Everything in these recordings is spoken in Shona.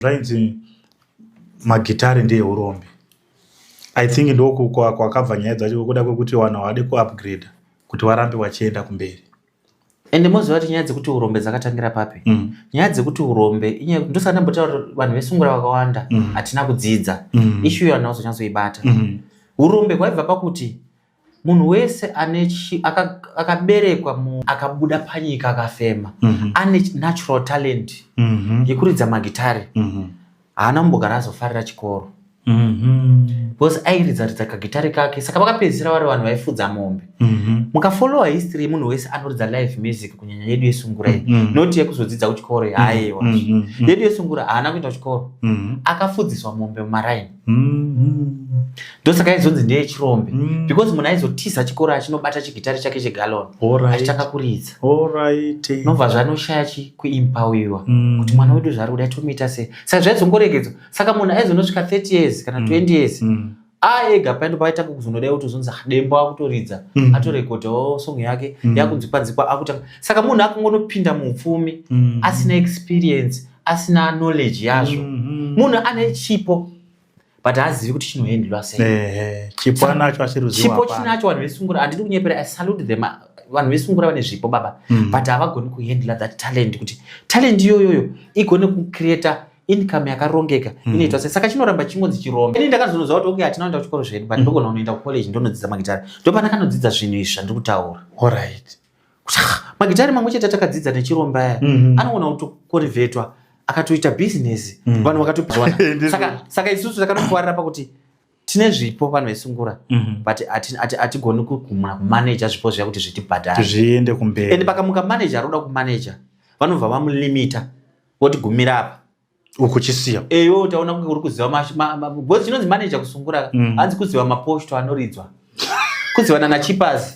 zvainzi magitare ndeeurombe i think ndoku kwakabva nyaya dzacho kuda kwekuti vanhu havade kuupgrade kuti varambe vachienda kumberi ende moziva kuti nyaya dzekuti urombe dzakatangira papi mm. nyaya dzekuti urombe ndosati ndambotaura kuti vanhu vesungura vakawanda mm. hatina mm. kudzidza mm. ishu iyo vanhu vazonyatsoibata mm. urombe hwaibva pakuti munhu wese ane akaberekwa mu akabuda panyika akafema mm -hmm. ane natural talent mm -hmm. yekuridza magitari mm -hmm. haana kumbogara azofarira chikoro mm -hmm. because airidza ridza kagitari kake saka vakapedzisira vari vanhu vaifudza mombe mm -hmm. mukafollowa history yemunhu wese anoridza live music kunyanya yedu yesungura iyi mm -hmm. not yekuzodzidza kuchikoro mhm. haiwa mm -hmm. yedu yesungura haana kuita kuchikoro mm -hmm. akafudziswa mombe mumaraini mm-hmm. ndosaka aizonzi ndeye chirombe mm. because munhu aizotiza chikoro achinobata chigitari chake chegalon achitanga kuridza nobva zvanoshaya chi kuimpawiwa mm. kuti mwana wedu zvaari kuda tomuita sei saka zvaizongoregedzwa saka munhu aizonosvika 30 years kana 20 mm. years mm aega paendo paaitanga kuzonodai kutozonzi dembo akutoridza mm. atorekodhawo oh, song yake mm. yakunzikwa nzikwa akutanga saka munhu akungonopinda muupfumi mm. asina experience asina knowledge yazvo mhm. munhu ane chipo but haazivi kuti chinoendlwa seichipo chinacho vanhu vesungura handidi kunyepera i salute them vanhu vesungura vane zvipo baba mm. but havagoni kuhandla that talent kuti talent iyoyoyo igone kucreata income yakarongeka mm. inoitwa sei saka chinoramba chingonzi chirombe ini ndakazonoziva kuti okay hatina kuenda kuchikoro zvedu but mm. ndogona kunoenda kucollege ndonodzidza magitare ndopandakanodzidza zvinhu izvi zvandiri kutaura allright magitare mamwe chete atakadzidza nechiromba aya mm -hmm. anoona kutokorivetwa akatoita business mm. vanhu vakatopiwana saka, saka isusu takanokuwarira pakuti tine zvipo vanhu vesungura mm -hmm. but hatigoni ati, ati kumuna kumanaja zvipo zviya kuti zvitibhadhare zviende kumberi and pakamuka manaja aroda kumanaja vanobva vamulimita votigumira apa ukuchisiya eyo eh, taona kunge uri kuziva because chinonzi manager kusungura mm. hanzi kuziva maposto anoridzwa kuzivana nachipazi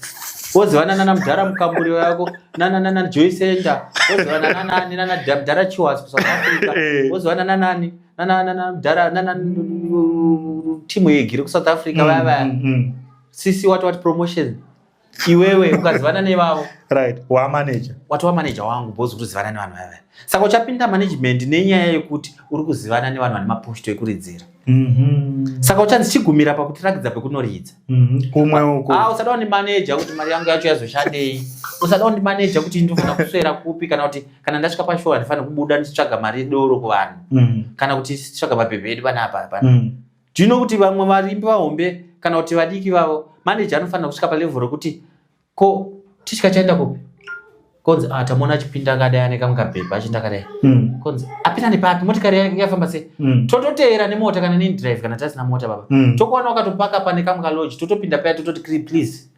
wozivana nana mudhara mukamburi yako nananana joy center wozivana nanani nanamudhara chiwas kusouth africa eh. wozivana nanani nananamudhara nana timu yegiri kusouth africa vaya vaya mm, mm, mm. sisi wati wati promotion iwewe ukazivana nevavo right wamanager watova manager wangu bhozi kuti uzivana nevanhu vave saka uchapinda management nenyaya yekuti uri kuzivana nevanhu vane maposto ekuridzira mm -hmm. saka uchanzi chigumira pakutirakidza pekunoridza mhm. kumwe mm -hmm. uko ah, usada undimaneja kuti mari yangu yacho yazoshandei usada undimaneja kuti ndofana kuswera kupi kana kuti kana ndasvika pashoo handifanire kubuda ndichitsvaga mari yedoro kuvanhu mm -hmm. kana kuti tsvaga mapepe edu panapa pana mm -hmm. Do you know kuti vamwe varimbi vahombe kana kuti vadiki vavo manager anofanira kusvika palevel rekuti ko tichika chaenda kupi konzi ah tamona achipinda akadai ane kamwe kabhebha achinda akadai hmm. konzi apinda nepapi motikari yafamba sei hmm. tototeera nemota kana nendrive kana tasina mota baba hmm. tokuwana wakatopaka pane kamwe kalodge totopinda paya tototi kri please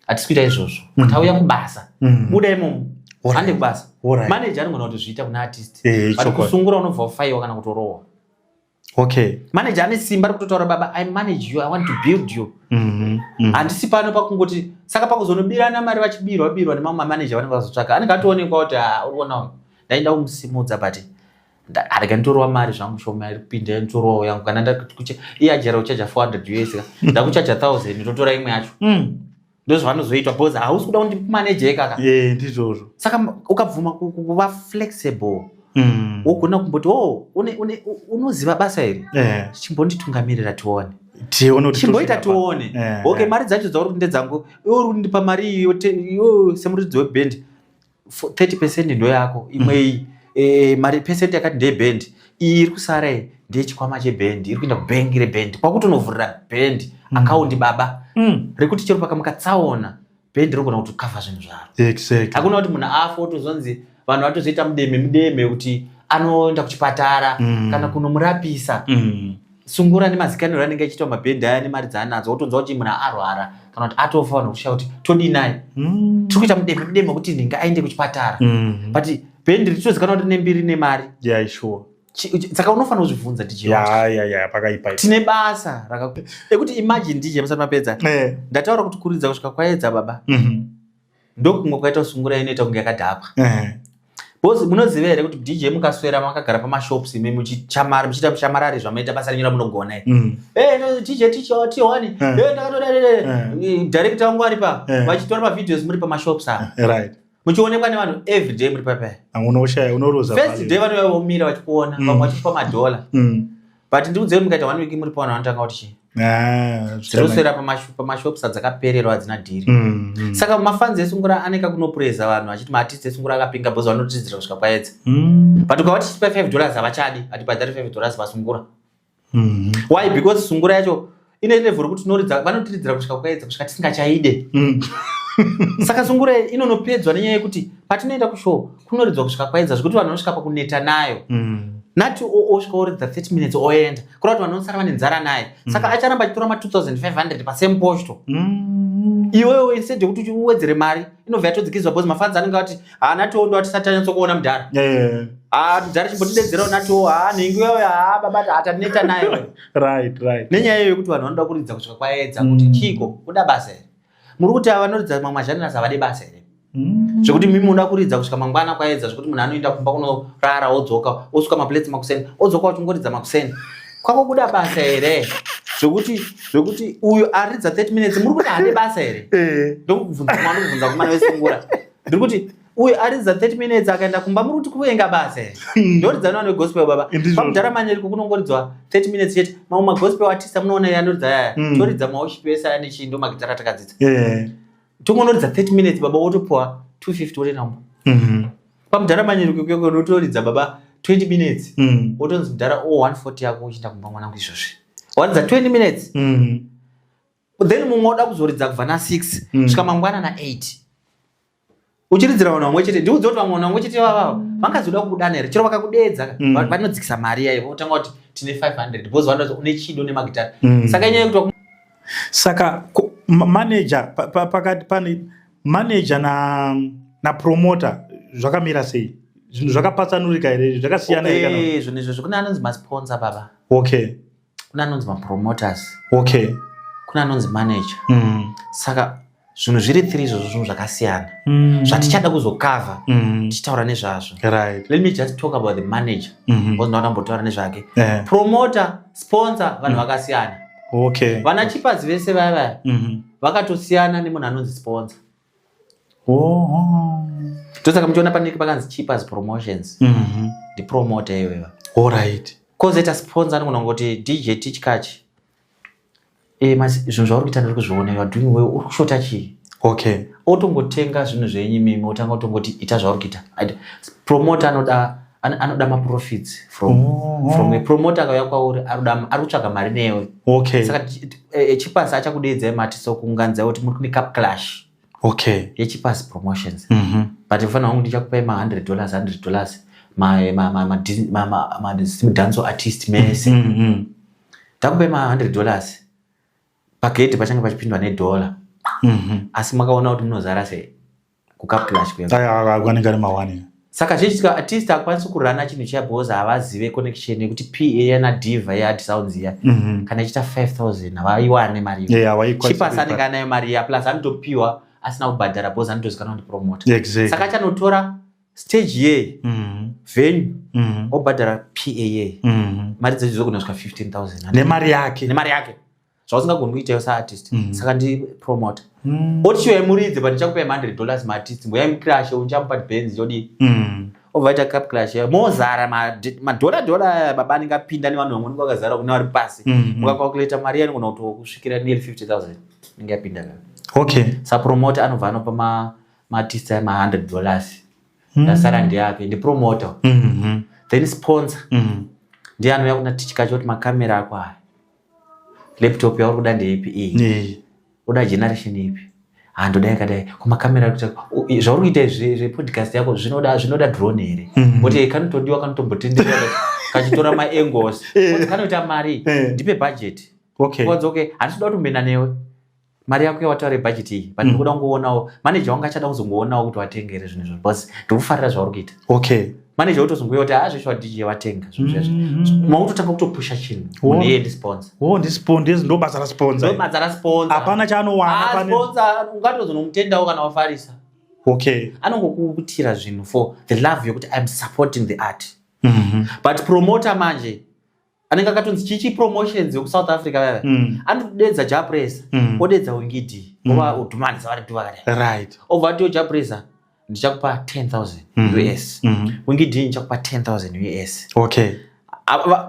hatisi kuita izvozvo tauya kubasa buda imomo hande kubasa manager anogona kuti zviita kuna artist eh, but kusungura unobva wafaiwa kana kutorohwa okay manager ane simba rekutotaura baba i manage you i want to build you mhm, mhm. handisi pano pakungoti saka pakuzonobirana mari vachibirwa birwa nemamwe mamanager vanenge vazotsvaka anenge atoonekwa kuti ah, uriona uyu ndaida kumusimudza but arega nditorova mari zvangu shoma iripinda nditorova yangu kana ndakucha iye ajera uchaja 400 us ndakuchaja 1000 ndotora imwe yacho mm. ndozvavanozoitwa because hausi kuda kundimaneje kaka eh, ndizvozvo saka ukabvuma kuva flexible mm. wogona kumboti o unoziva basa iri eh. chimbonditungamirira tione chimboita tione eh, ok mari dzacho dzauri kuti ndedzangu iwe uri kundipa mari iyo semuridzi webhendi 30 percent ndoyako imwe iyi mm. eh, mari percent yakati ndeyebhendi iyi iri kusara iyi ndeyechikwama chebhendi iri kuenda kubhengi rebhendi kwakutonovhurira bhendi mm. akaundi baba mm. rekuti chero pakamuka tsaona bhendi rinogona kuti kava zvinhu zvaro exactly. hakuna kuti munhu afa otozonzi vanhu vatozoita mudeme mudeme kuti anoenda kuchipatara mm. kana kunomurapisa mm. sungura nemazikaniro anenge achiitwa mabhedhi aya nemari dzaanadzo wotonzwa kuti munhu arwara kana kuti atofa vanhu kushaa kuti todii naye mm. tiri kuita mudeme mudeme wekuti nhinge aende kuchipatara mm-hmm. but bhendi ritozikanwa kuti nembiri nemari saka unofanira kuzvibvunza tine basa rekuti imagine dj musati mapedza eh. ndataura kuti kuridza kusvika kwaedza baba mm-hmm. ndokunge kwaita sungura inoita kunge yakadhakwa bcause eh. munoziva here kuti dj mukaswera makagara pamashops imi muchichamara muchiita mushamarari zvamaita basa renyu ramunogona iri mm. eh, dj ticho tiwani eh. ndakatoda director wangu ari pa vachitora mavideos muri pamashops aa muchionekwa nevanhu everyday muri papaya ah, unoshaya unoroza first day vanouya vomira vachikuona mm. vamwe vachipa madhola mm. but ndiudzei mukaita one week muri paona vanotanga kuti chii Ah, dziri kuswera pamashops adzakapererwa hadzina dhiri mm, mm. saka mafanzi esungura ane kakunopureza vanhu achiti maartist esungura akapinga bhozi vanotidzira kusvika kwaedza mm. but ukava tichipa five dollars havachadi hatibhadhari five dollars vasungura mm-hmm. why because sungura yacho ine level rekuti tinoridza vanotiridzira kusvika kwaedza kusvika tisingachaide mm. saka sungura inonopedzwa nenyaya yekuti patinoenda kushow kunoridzwa kusvika kwaedza zvekuti vanhu vanosvika pakuneta nayo mm. nati osvika oridza 30 minutes oenda kura kuti vanhu vanosara vane nzara naye mm. saka acharamba achitora ma 2500 pasame posto iwewe instead yekuti uwedzere mari inobva yatodzikizwa bcause mafanzi anenge ati haana tiwo ndo atisati anyatsokuona mudhara mudhara chimbotidedzerawo natiwo haa nhingi wewe haa babati hataneta naye right right nenyaya iyo yekuti vanhu vanoda kuridza kusvika kwaedza kuti mm. chiko kuda basa here muri kuti ava vanoridza mamwe azhanira savade basa here mm. zvekuti mimi unoda kuridza kusvika mangwana kwaedza zvekuti munhu anoenda kumba kunorara odzoka osuka maplates makuseni odzoka uchingoridza makuseni kwako kuda basa here zvekuti zvekuti uyu aridza 30 minutes muri kuti hade basa here eh. ndokubvunza mwana kubvunza kumana vesungura ndiri kuti uyu aridza 30 minutes akaenda kumba muri kuti kuvenga basa here hmm. ndoridza nova negospel baba pamudhara manyeriko kunongoridzwa 30 minutes chete mamwe magospel atisa munoona iye anoridza yaya hmm. toridza maoshipi ese aya nechii ndo magitara atakadzidza eh. tongonoridza 30 minutes baba wotopuwa 250 wotoenda kumba mhm. pamudhara manyeriko kuyoko unotoridza baba 20 minutes hmm. wotonzi mudhara o 140 yako uchienda kumba mwanangu izvozvi waridza 20 minutes then mumwe oda kuzoridza kubva na 6 mm. svika mangwana na 8 uchiridzira vanhu vamwe chete ndiudze kuti vamwe vanhu vamwe chete vavavo vangazoda kukudana here chero vakakudeedza mm. vanodzikisa mari yaivo votanga kuti tine 500 because vanoda kuti une chido nemagitari mm. saka inyaya yekuti saka manager pakati pane manager na na promoter zvakamira sei zvinhu zvakapatsanurika here zvakasiyana here kana zvinhu izvo zvekune anonzi masponsor baba okay kuna anonzi mapromoters okay kuna anonzi manager mm. saka zvinhu zviri three izvozvo zvinhu zvakasiyana mm. zvatichada kuzokava mm. tichitaura nezvazvo right. let me just talk about the manager mm-hmm. bcause ndaona mbotaura nezvake yeah. promoter sponsor vanhu mm. vakasiyana okay. vana chipazi vese vaya vaya mm-hmm. vakatosiyana nemunhu anonzi sponsor ndosaka muchiona panenge pakanzi cheapers promotions mhm. ndipromota iyoyo orit kozoita sponsor anogona kuti dj tichkach eh, zvinhu zvauri kuita ndiri kuzviona youare doing well uri kushota chii okay otongotenga zvinhu zvenyu mimi otanga otongoti ita zvauri kuita promota anoda An, anoda maprofits from, oh, oh. from a promoter akauya kwauri ari kutsvaga mari newe okay. saka echipasi e, e, achakudeedzai mati sokunganzai kuti muri kune cup clash okay. yechipasi promotions mm -hmm. but mfanira wangu ndichakupai ma 100 dollars 100 dollars madanso artist mese mm -hmm. takupai ma 100 dollars pagedhi pachange pachipindwa nedhora mm -hmm. asi makaona kuti munozara sei kukaplash kweanenge ari mawani saka zvichiitika artist akwanisi kurana chinhu chiya because havazive connection yekuti pa yana diva yead sounds iya mhm. kana ichiita 5000 havaiwane mari chipasi anenge anayo mari iya plus anotopiwa asina kubhadhara because anotozikanwa kuti promota saka achanotora stage ye mhm. venue mhm. obhadhara pa mari dzechizokunasvika 15000 nemari yake nemari yake zvausingagoni kuita yo saartist mm. saka ndipromote mm. oti chiyo yaimuridze but ndichakupai 100 dollars maartist mboyaimcrashe unchamupa benz yodii mm. ovaita cap clash mozara madhora dhora baba anenge apinda nevanhu vamwe nenge vakazara kune vari pasi mm, mukacalculata mm. mari yanogona kuti kusvikira near 50 000 inenge yapinda ka okay sapromote anobva anopa maartist ma ma 100 dollars mm. ndasara ndiyake ndipromoter mm -hmm. then sponsor mm. ndiye anouya kuna tichikacho kuti makamera ako aya laptop yauri kuda ndeipi iyi uda generation ipi handoda yakadai kumakamera kuita zvauri kuita izvi zvepodcast yako zvinoda zvinoda drone here mhm. oti kanotodiwa kanotombotendera kachitora maangles kanoita mari eh. ndipe budget okay okay handisi kuda kutombena newe mari yako yawataura yebhajeti iyi but mm. ndikuda kungoonawo maneja wanga achada kuzongoonawo kuti watenge here zvinhu izvo because ndikufarira zvauri kuita okay maneja utozongoya kuti haa ah, zvesho wadj watenga zvinhu zvesvo mm-hmm. mautotanga kutopusha chinhu munhu iye ndisponsa wo ndisponsa ndo basa rasponsa ndo basa rasponsa hapana chaanowana ah, sponsa ungatozonomutendawo kana wafarisa okay anongokutira zvinhu for the love yokuti iam supporting the art mm-hmm. but promoter manje anenge akatonzi chichi promotions yoku south africa vava mm. anotodedza japresa mm. odedza wingidi mm. ova mm. udhumani savariti vakati right obva atiwo japresa ndichakupa 10000 mm -hmm. us mm -hmm. wingidi ndichakupa 10000 us okay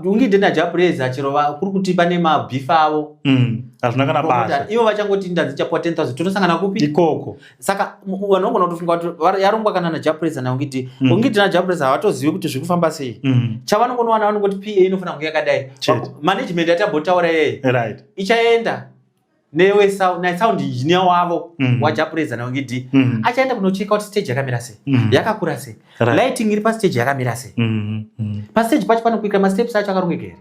ungide najapureza chero kuri kuti pane mabhifa avo mm, hazvina kana basa ivo vachangoti ndanzi chapuwa 10000 tonosangana kupi ikoko saka vanhu vangona kutofunga kuti yarongwa kana najapresa nayo ngiti mm. ungiti najapresa havatozivi kuti zviri kufamba sei mm. chavanongonowana vanongoti pa inofanira kunge yakadai management yatambotaura yeye ichaenda newe sound engineer wavo mm. wajapresa nayo ngiti mm. achaenda kunocheka kuti stage yakamira sei mm. yakakura sei lighting iri pastage yakamira sei pastage pacho panokuika masteps acho akarongeka here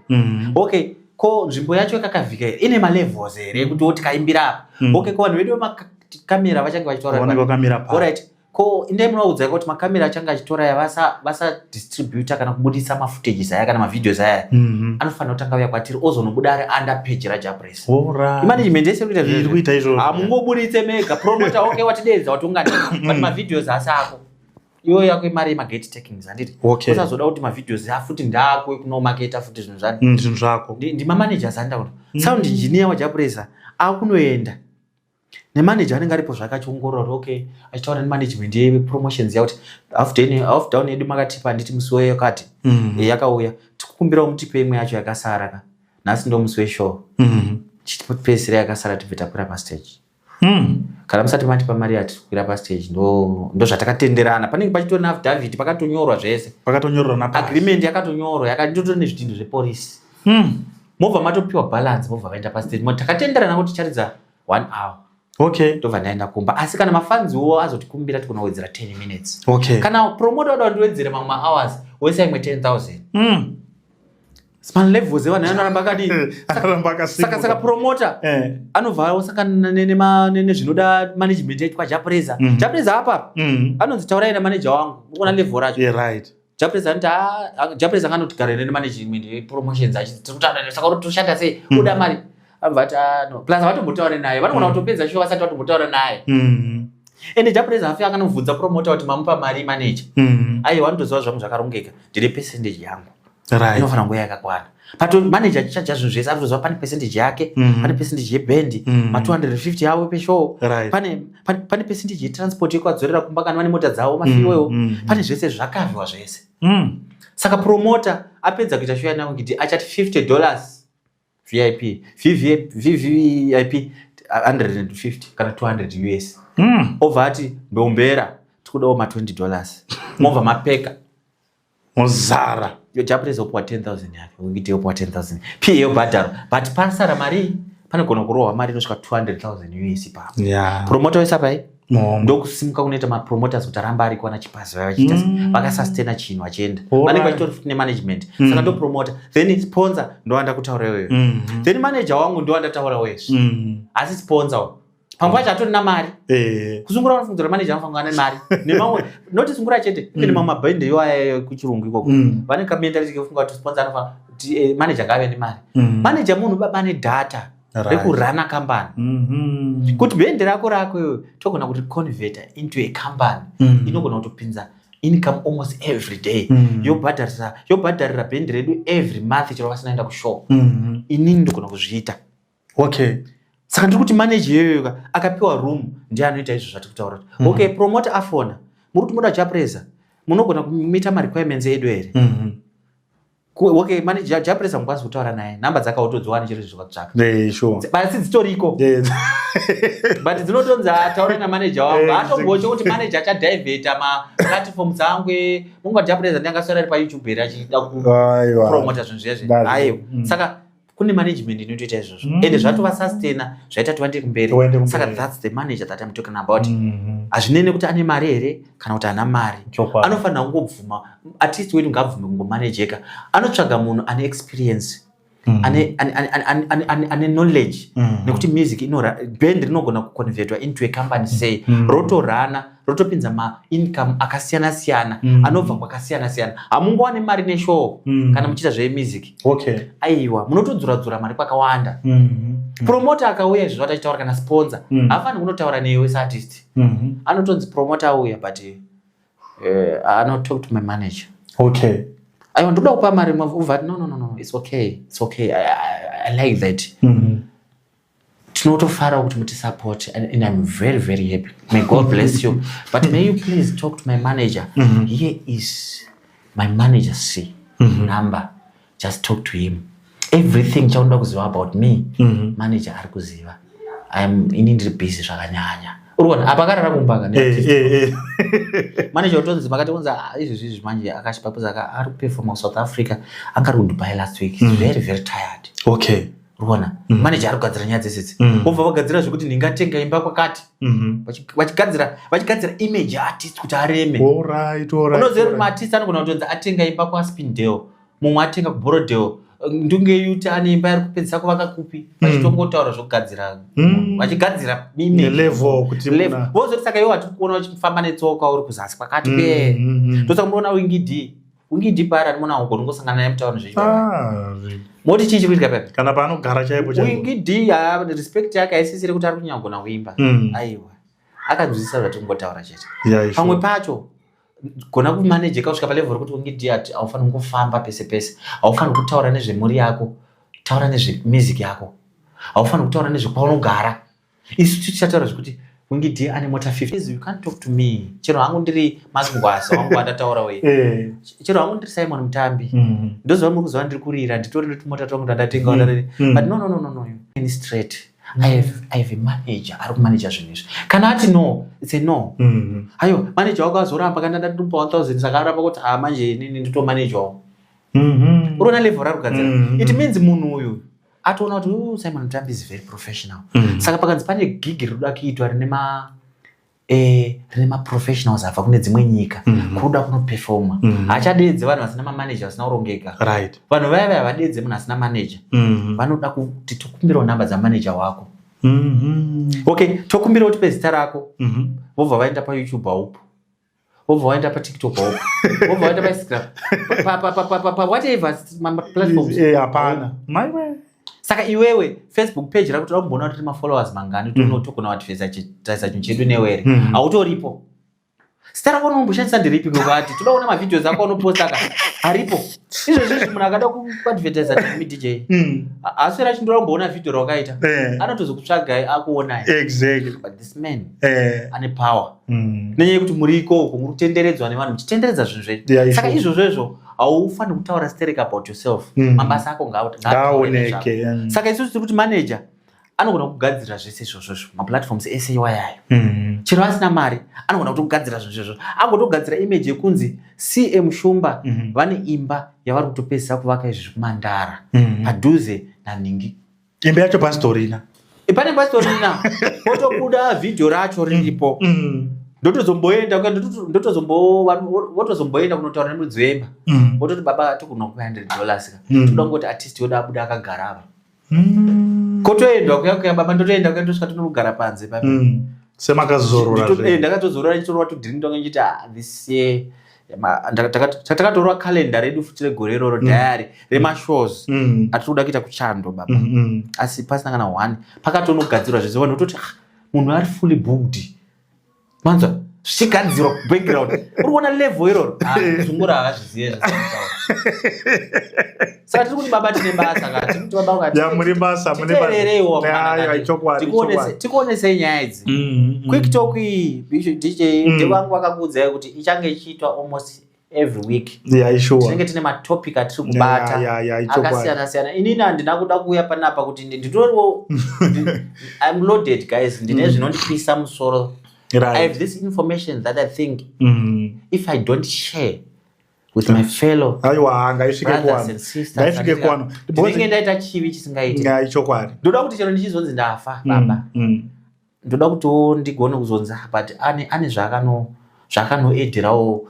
okay ko nzvimbo yacho yakakavhika here ine malevels here ekuti woti kaimbira apa okay ko vanhu vedu kamera vachange vachitaura ko indai munovaudza kuti makamera achange achitora aya vasadistributa kana kubudisa mafootages aya kana mavideos aya mhm. anofanira kutanga uya kwatiri ozonobuda ari under page rajapres imanagement yese kuita izvozvo hamungoburitse mega promota oke watideedza watongani mm. but mavideos asi ako iyoyo yako imari yemagate takings handiti usazoda kuti mavideos afuti ndako ekunomaketa futi zvinhu zvatinhu mm, zvako ndimamanagers andaura mm. sound engineer wajapuresa akunoenda nemanager anenge aripo zvake achiongorora okay achitaura nemanagement yepromotions yakuti half down yedu makatipa handiti musi weyakati mm. eh, yakauya tikukumbirawo mutipe imwe yacho yakasara ka nhasi ndo musi weshow mm. chitipedzisira yakasara tibve takwira pastage mm. kana musati matipa mari yatikwira pastage ndozvatakatenderana ndo panenge pachitori naafdavid pakatonyorwa zvese pakatonyorwa agreement yakatonyorwa yakatotori nezvidhinhu zvepolisi Hmm. Mobva matopiwa balance mobva vaenda pastage moti takatenderana kuti charidza one hour. Okay. Ndobva ndaenda kumba. Asi kana mafans wo azotikumbira tikona kuwedzera 10 minutes. Okay. Kana promoter wada ndiwedzere mamwe hours woisa imwe 10000. Mm. Small levels evanhu anoramba akadi. Anoramba akasimuka. Saka saka promoter eh. anobva osangana nene ma nene zvinoda management yaitwa Japreza. Mm -hmm. Japreza apa. Mm -hmm. Anonzi taurai na manager wangu. Ukona level racho. Yeah right. Japres anti ah Japres akanoti gare ne management ye promotions achi tiri kutaura ne saka uri toshanda sei mm. kuda mari abva ati ah no plus vatombotaura naye vanogona mm. kutopedza show vasati vatombotaura naye mm. ende Japres afi akanovhunza promoter kuti mamupa mari manager mm. ayi wanotoziva zvangu zvakarongeka ndine percentage yangu right inofanira kunge yakakwana pato manager achichaja zvinhu zvese ari kuziva pane percentage yake mm -hmm. pane percentage yebhendi mm -hmm. ma250 yavo peshow right. pane, pane, pane percentage yetransport yekuadzorera kumba kana vane mota dzavo mafiwewo mm -hmm. pane zvese zvakavhiwa zvese mm. saka promota apedza kuita show yanavo kuti achati 50 dollars vip vvip 150 kana 200 us mm. obva ati mbeumbera tikudawo ma20 dollars mobva mapeka muzara yojapresa opuwa 10000 yake wikiti yopuwa 10000 pa yobhadharo but pasara mari panogona kurohwa mari inosvika 200000 us ipapo yeah. promota wese apai ndokusimuka kunoita mapromoters kuti aramba ari kuwana chipazi vaya vachiita mm. vakasustena chinhu vachienda vanenge vachitori futi nemanagement mm. saka ndopromota then sponsor ndowanda kutaura iweyo mm. then manager wangu ndowandataura wezve mm. asi sponsor pamwe pacho atori namari eh. kusungura vanofungira manager anofanira ane mari nemamwe noti sungura chete ive mm. nemamwe mabhende iwayo kuchirungu ikoko mm. vane kamentality kefunga kuti sponsor anofanira kuti eh, manager ngaave nemari mm. manager munhu baba ane data rekurana kambani mm-hmm. kuti bhende rako rako iwe togona kuti converter into a company mm. inogona kutopinza income almost every day mm. yobhadharira bhende redu every month chero vasinaenda kushow mm-hmm. inini ndogona kuzviita okay saka ndiri kuti manager yoyoka akapiwa room ndiye anoita izvo zvati kutaura mm -hmm. okay promote afona muri kuti moda chapresa munogona kumita marequirements edu here mm -hmm okay manje japuresa mukwanisa kutaura naye nhamba dzaka utodziwani chero izvi zvakatsvaka basi dzitoriko but dzinotonzi ataure namaneja wangu atomboche kuti maneja achadivheta maplatform dzangu mungu japuresa ndiangaswera ari payoutube here achida kupromota zvinhu zviya zviaiwa mm. saka kune management inotoita izvozvo mm. ende zvatova sustena zvaita tivande kumberi saka thats the manager that im talking about mm-hmm. hazvinei nekuti ane mari here kana kuti ana mari anofanira kungobvuma at least wedu ngaabvume kungomanejeka anotsvaga munhu ane experience mm. ane, ane, ane, ane, ane, ane knowledge mm. nekuti music inoband rinogona kuconvertwa into a company say mm. rotorana rotopinza maincome akasiyana siyana mm. anobva kwakasiyana siyana hamungowane mari neshowo mm. kana muchiita zvemusic okay. aiwa munotodzura dzura mari kwakawanda mm -hmm. promota akauya izvo zvataitaura kana sponsor mm. haafaniri kunotaura newe seartist mm -hmm. anotonzi promota auya but uh, anotalk to my manager okay aiwa ndoda kupa mari mavati no, no, no, no. it's okay it's okay i, I, I like that mm -hmm. tinotofara kuti muti support and, and i'm very very happy may god mm-hmm. bless you but may you please talk to my manager mm -hmm. here is my manager c mm -hmm. number just talk to him everything chaunoda kuziva about me mm -hmm. manager ari kuziva im ini ndiri busy zvakanyanya urikuona apa akarara kumbanga eh, eh, eh. manager utonzi makati kunzi ah, izvi zvizvi manje akashipapuza ari kuperforma kusouth africa anga ari kudubai last week mm -hmm. very very tired okay urikuona mm. maneja ari kugadzira nyaya dzese idzi mm. obva vagadzira zvekuti ndingatenga imba kwakati mm-hmm. vachigadzira vachigadzira image artist kuti areme unoziva kuti maartist anogona kutonzi atenga imba kwaspindale mumwe atenga kuborodale ndunge yuti ane imba iri kupedzisa kuvaka kupi mm. vachitongotaura zvekugadzira mm. vachigadzira vozoti saka iwo vatiri kuona vachifamba netsoka uri kuzasi kwakati mm, be ndosakumboona wingidii ungidi pari ari mwana wangu ungosangana naye mutauni zvechi ah, moti chii chikuitika pepe kana paanogara chaipo chaipo ungidi ah, respect yake aisisire kuti ari kunyanya kugona kuimba mm. aiwa akanzwisisa zvati kungotaura chete pamwe pacho gona kumanejeka kusvika palevel rekuti ungidi ati haufaniri kungofamba pese pese haufaniri kutaura nezvemhuri yako taura nezvemizik yako haufaniri kutaura nezvekwaunogara isu tichataura zvekuti wingidi ane mota 50 you can't talk to me chero hangu ndiri mazingwaza wangu andataura uye eh. chero hangu ndiri simon mutambi mm-hmm. ndoziva muri kuziva ndiri kurira nditori netumota twangu tandatenga mm-hmm. mm-hmm. but no no no no no any straight I have, I have a manager ari kumanager zvinhu izvi kana ati no it's a no ayo manager wako azoramba kana ndatitumba 1000 saka aramba kuti ha ah, manje inini nditomanejwawo uroona level rarugadzira it means munhu uyu atoona kuti oh, simon mutambi is very professional mm -hmm. saka pakanzi pane gig rinoda kuitwa rine ma eh, rine maprofessionals abva kune dzimwe nyika mm -hmm. kuruda kunopefoma mm -hmm. hachadeedze vanhu vasina mamaneja vasina kurongeka right. vanhu vaya vaya vadeedze munhu asina maneja mm -hmm. vanoda kuti tokumbirawo nhamba dzamaneja wako mm -hmm. okay tokumbirawo tipe zita rako mm -hmm. vobva vaenda payoutube haupo wobva waenda patiktok wobva waenda painstagram pawhatever maplatforms eh, hapana maiwe saka iwewe facebook page rakuti rakumboona kuti rine mafollowers mangani kuti mm. unotogona kuadvesa taisa chinhu chedu newe here mm. hautoripo zita rako unomboshandisa ndiripi kwekuvati toda kuona mavideos ako anoposta ka aripo izvezvizvi munhu akada kuadvertisa timi dj mm. haaswera achindora kumboona vhideo rawakaita eh. anotozokutsvagai akuonai man eh. ane power mm. nenyaya yekuti muri ikoko muri kutenderedzwa nevanhu muchitenderedza zvinhu zvenyu yeah, saka izvozvo izvo haufaniri kutaura sterek about yourself mm. mabasa ako ngaaoneke mm. saka isusu tiri kuti manager anogona kugadzirira zvese izvozvozvo maplatforms ese iwayayo mm. chero asina mari anogona kuti kugadzirira zvinhu zvozvozvo agotogadzira image yekunzi cm shumba mm. vane imba yavari kutopedzisa kuvaka izvi zvekumandara mm. padhuze nanhingi imba yacho pasitorina eh, pane pasitorina otobuda vhidhiyo racho riripo mm, mm. ndotozomboenda votozomboenda kunotaura nemudzi wemba mm. vototi baba tikuno ku 100 dollars ka toda kungoti artist yoda abuda akagara apa kotoendwa kuya kuya baba ndotoenda kuya ndosvika tinogara panze pa semakazorora eh, ndakatozorora nditorova tudhiri ndonge ndichiti ah, this year takatorwa calenda redu futi regore iroro mm. diary remashows mm. mm. atiri kuda kuita kuchando baba mm, mm. asi pasina kana one pakatonogadzirwa zvese vanhu vototi ah, munhu ari fully booked manzwa zvichigadzirwa background uri kuona level iroro ah, zungura hazvizive zvese saka tiri kuti baba tine basa katimuri basa munetikuonesei nyaya idzi mm, mm, mm. quick talk iyi dj ndevangu vakakuudzai kuti ichange ichiitwa almost every week tinenge tine matopic atiri kubata akasiyana siyana inini handina kuda kuuya panapa kuti nditoriwo im loaded guys ndine zvinondipisa musoro i have this information that i think if i don't share with my fellow aiwa ngaisvike kwano ngaisvike kwano ndinenge ndaita chivi chisingaiti ngai chokwadi ndoda kuti chero ndichizonzi ndafa mm, baba mm. ndoda kuti wo ndigone kuzonzi ah, but ane ane zvakano zvakanoedherawo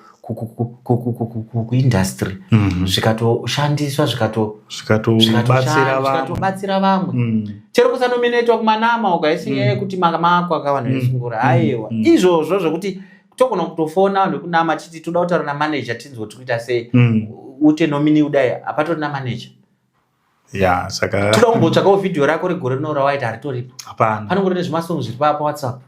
kuindustry mm-hmm. zvikatoshandiswa zvikatobatsira vamwe mm. chero kusanominetwa kumanama ukaisinyaya mm. kuti makamako akavanhu vesungura aiwa izvozvo zvekuti togona kutofona vanhu vekunama titi toda kutaura namanaja tinzwa kuti kuita sei mm. ute nomini kudai hapatori namanaja ya saka toda kumbotsvakawo vhidhiyo rako regore rino rawaita haritoripo hapana panongori nezvimasongo zviri paa pawhatsapp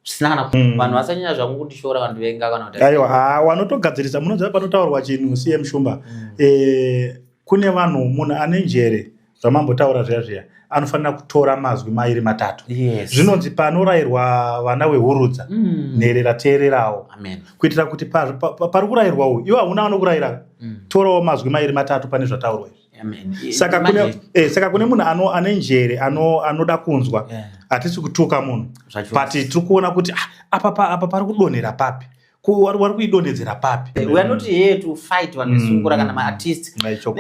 zvisina kana mm. vanhu vasanyanya zvangu kundishora vanhu venga kana kuti aiwa ah, wanotogadzirisa munoziva panotaurwa chinhu cm shumba mm. eh, kune vanhu munhu ane njere zvamambotaura zviya zviya anofanira kutora mazwi mairi matatu yes. zvinonzi panorayirwa vana wehurudza mm. nherera teererawo kuitira kuti pari pa, pa, pa, kurayirwa uyu iwo hauna vanokurayira mm. torawo mazwi mairi matatu pane zvataurwa izvi saka kune, eh, saka kune munhu ano, ane njere anoda ano kunzwa hatisi yeah. kutuka munhu but tiri kuona kuti ah, apa pari kudonhera papi wari kuidonhedzera papi we are not here to fight vanhu vesungura mm. kana maartist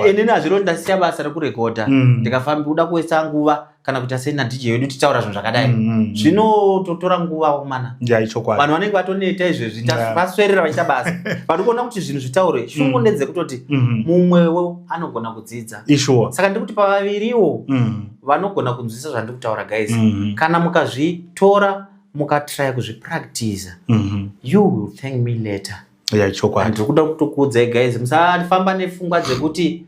inini hazviro ndasiya basa rekurekodha mm. ndikafambi kuda kuwesa nguva kana kuita sei nadj wedu titaura zvinhu zvakadai mm, zvinototora nguva kumana vanhu vanenge vatoneta izvezvi vaswerera vachiita basa vari kuona kuti zvinhu zvitaure shungu ndedzekutoti mm-hmm. mumwewo anogona kudzidza saka ndiri kuti pavaviriwo vanogona kunzwisa zvandiri kutaura guys mm-hmm. kana mukazvitora mukatraya kuzvipractiza mm -hmm. you will thank me later yeah, chokwadi ndiri kuda kutokuudzai guys musafamba nefungwa dzekuti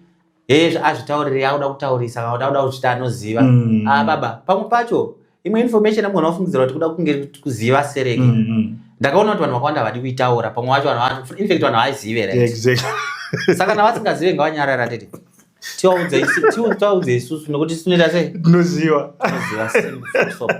hezvo azvitauriri akuda kutaurisa kana kuti akuda kuzvita anoziva mm. ah, baba pamwe pacho imwe information amugona kufungidzira kuti kuda kunge kuziva sereki mm -hmm. ndakaona kuti vanhu vakawanda havadi kuitaura pamwe vacho infact vanhu havazive right exactly. saka kana vasingazive ngavanyarara tete tiwaudze isu- tiwa- tiwaudze isusu nokuti tinoita sei Tinoziva. Tinoziva simba, full stop.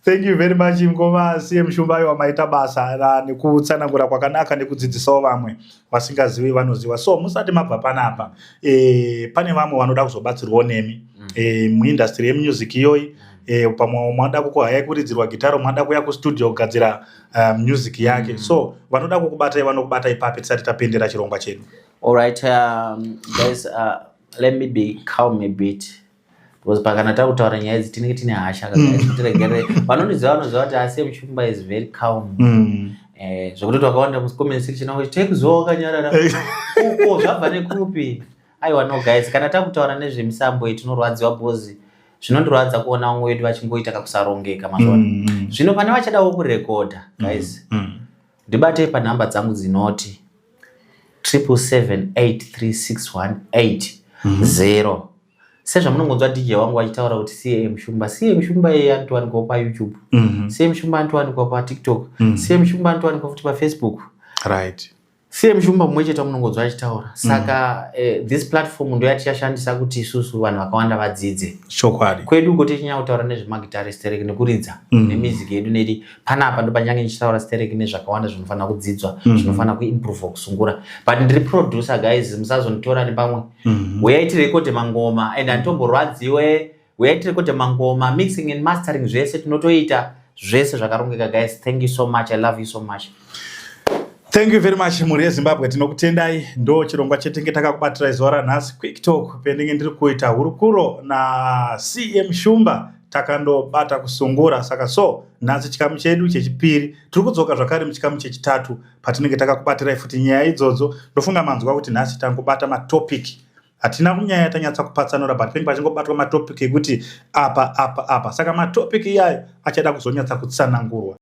Thank you very much mkoma CM Shumbayo wamaita basa ra- nekutsanangura kwakanaka nekudzidzisawo vamwe vasingazivi vanoziva. So musati mabva panapa eh, pane vamwe vanoda kuzobatsirwawo nemi Mm. eh, muindustry yemusic iyoyi eh, pamwe mada kukuhaya kuridzirwa gitaro mada kuya kustudio kugadzira uh, music yake Mm. so vanoda kukubatai vanokubatai papi tisati tapendera chirongwa chedu. All right, um, guys, uh, let me be calm a bit because pakana takutaura nyaya idzi tinenge tine hasha katiregere hmm. vanondiziva vanoziva kuti ase muchumba is very calm hmm. eh, zvekuti twakawanda mucomment section akuti tekuziva wakanyarara uko zvabva nekupi aiwa no guys kana takutaura nezvemisambo iyi tinorwadziwa bhozi zvinondirwadza kuona vamwe wedu vachingoita kakusarongeka mazuva hmm, zvino pane vachadawo kurekodha guys mm. Mm. Ndibate panhamba dzangu dzinoti 777836180 mm -hmm. sezvamunongonzwa dj wangu vachitaura kuti cam shumba cam shumba iye anotowanikwa payoutube mm -hmm. cam shumba anotowanikwa patiktok mm -hmm. cam shumba anotowanikwa futi pafacebook right cm shumba mumwe chete munongonzwa achitaura saka mm. eh, this platform ndo yatichashandisa kuti isusu vanhu vakawanda vadzidze chokwadi kwedu uko tichinyanya kutaura nezvemagitarist rek nekuridza mm. nemusic yedu nedi panapa ndopanyange ndichitaura stereki nezvakawanda zvinofanira kudzidzwa mm -hmm. zvinofanira kuimprova kusungura but ndiri producer guys musazonditora nepamwe mm -hmm. huyai tirekode mangoma and anditomborwadziwe huyai tirekode mangoma mixing and mastering zvese tinotoita zvese zvakarongeka guys thank you so much i love you so much thank you very much mhuri yezimbabwe tinokutendai ndo chirongwa chetenge takakubatirai zuva ranhasi quick talk pendenge ndiri kuita hurukuro nacm shumba takandobata kusungura saka so nhasi chikamu chedu chechipiri tiri kudzoka zvakare muchikamu chechitatu patinenge takakubatirai futi nyaya idzodzo ndofunga manzwa kuti nhasi tangobata matopic hatina kunyaya tanyatsa kupatsanura but penge pachingobatwa matopic ekuti apa apa apa saka matopic iyayo achada kuzonyatsa kutsanangurwa